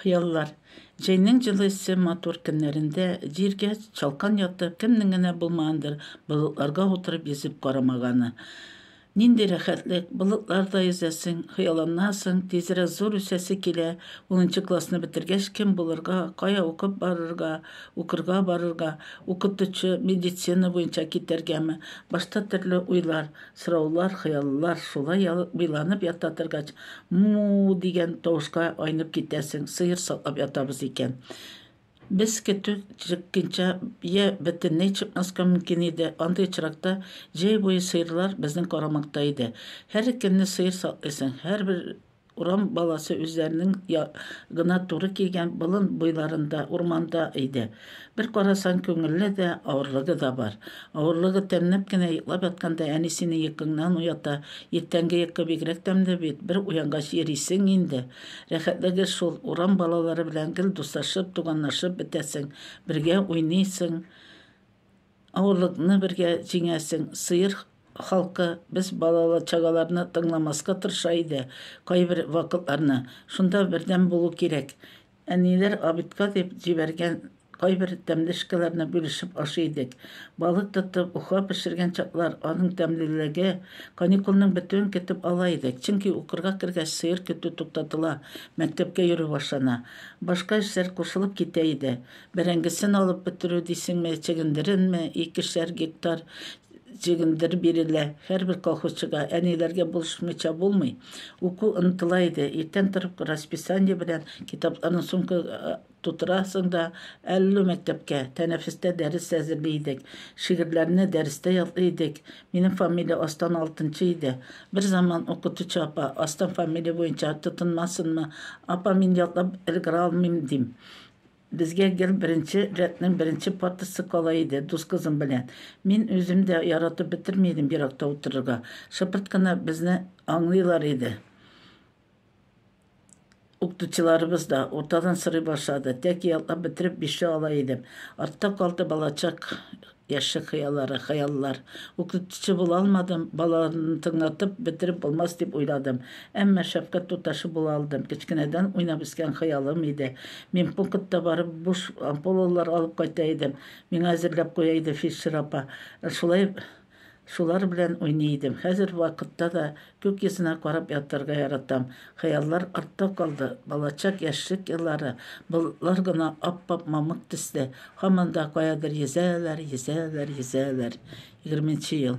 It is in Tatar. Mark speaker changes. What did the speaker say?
Speaker 1: Хыяллар. Җәйнең җылы эссе матур көннәрендә җиргә чалкан ятып, кемнең генә булмагандыр болытларга утырып йөзеп карамаганы. Нинди рәхәтлек, болытларда йөзәсең, хыялланасың, тизрәк зур үсәсе килә, унынчы классны бетергәч кем булырга, кая укып барырга, укырга барырга, укытучы, медицина буенча китәргәме, башта төрле уйлар. Сораулар, хыяллар шулай ялбиланып ята торгач, му-у дигән тавышка айнып китәсең, сыер саклап ятабыз икән. Без көтү чыкканча йә бөтенләй чыкмаска мөмкин иде, андый очракта җәй буе сыерлар безнең карамакта иде. Һәр көнне сыер саклыйсың, һәрбер Урам баласы үзләренең я, гына туры кигән болын буйларында, урманда иде. Бер карасаң, күңелле дә, авырлыгы да бар. Авырлыгы тәмләп кенә йоклап ятканда әни сине йокыңнан уята. Иртәнге йокы бигрәк тәмле бит, бер уянгач йөрисең инде. Рәхәтлеге шул, урам балалары белән гел дуслашып, туганлашып бетәсең, бергә уйныйсың. Авырлыкны бергә җиңәсең. Сыер халкы без балалы чагаларны тыңламаска тырыша иде кайбер вакытларны. Шунда бердәм булу кирәк. Әниләр обедка дип җибәргән кайбер тәмле шкаларны бүлешеп ашый идек. Балык тотып, уха пешергән чаклар, аның тәмлелеге. Каникулның бетүен көтеп ала идек, чөнки укырга кергәч сыер көтү туктатыла, мәктәпкә йөрү башлана. Башка эшләр кушылып китә иде. Бәрәңгесен алып бетерү дисеңме, чегендеренме, икешәр гектар чегендер бирелә. Һәрбер колхозчыга, әниләргә булышмыйча булмый. Уку ынтыла иде. Иртән торып расписание белән китапларны сумка тутырасың да әллү мәктәпкә. Тәнәфестә дәрес әзерли идек. Шигырьләрне дәрестә ятлый идек. Минем фамилия астан алтынчы иде. Бер заман укытучы апа, астан фамилия буенча тотынмасынмы, апа, мин ятлап өлгерә алмыйм, дим. Безгә гел беренче рәтнең беренче партасы кала иде, дус кызым белән. Мин үзем дә яратып бетерми идем еракта утырырга. Шыпырт кына безне аңлыйлар иде. Укытучыларыбыз да, уртадан сорый башлады. Тәки ятлап бетереп бишле ала идем. Артта калды балачак Яшьлек хыяллары, хыяллар. Укытучы була алмадым, балаларны тыңлатып бетереп булмас дип уйладым. Әмма шәфкать туташы була алдым. Кечкенәдән уйнап үскән хыялым иде. Медпунктка барып, буш ампулалар алып кайта идем. Миңа әзерләп куя иде фельдшер апа. Шулай Шулар белән уйный идем. Хәзер вакытта да күк йөзенә карап ятарга яратам. Хыяллар артта калды. Балачак, яшьлек еллары, болытлар гына ап-ап мамык төсле, һаман да каядыр йөзәләр, йөзәләр, йөзәләр. Егерменче ел.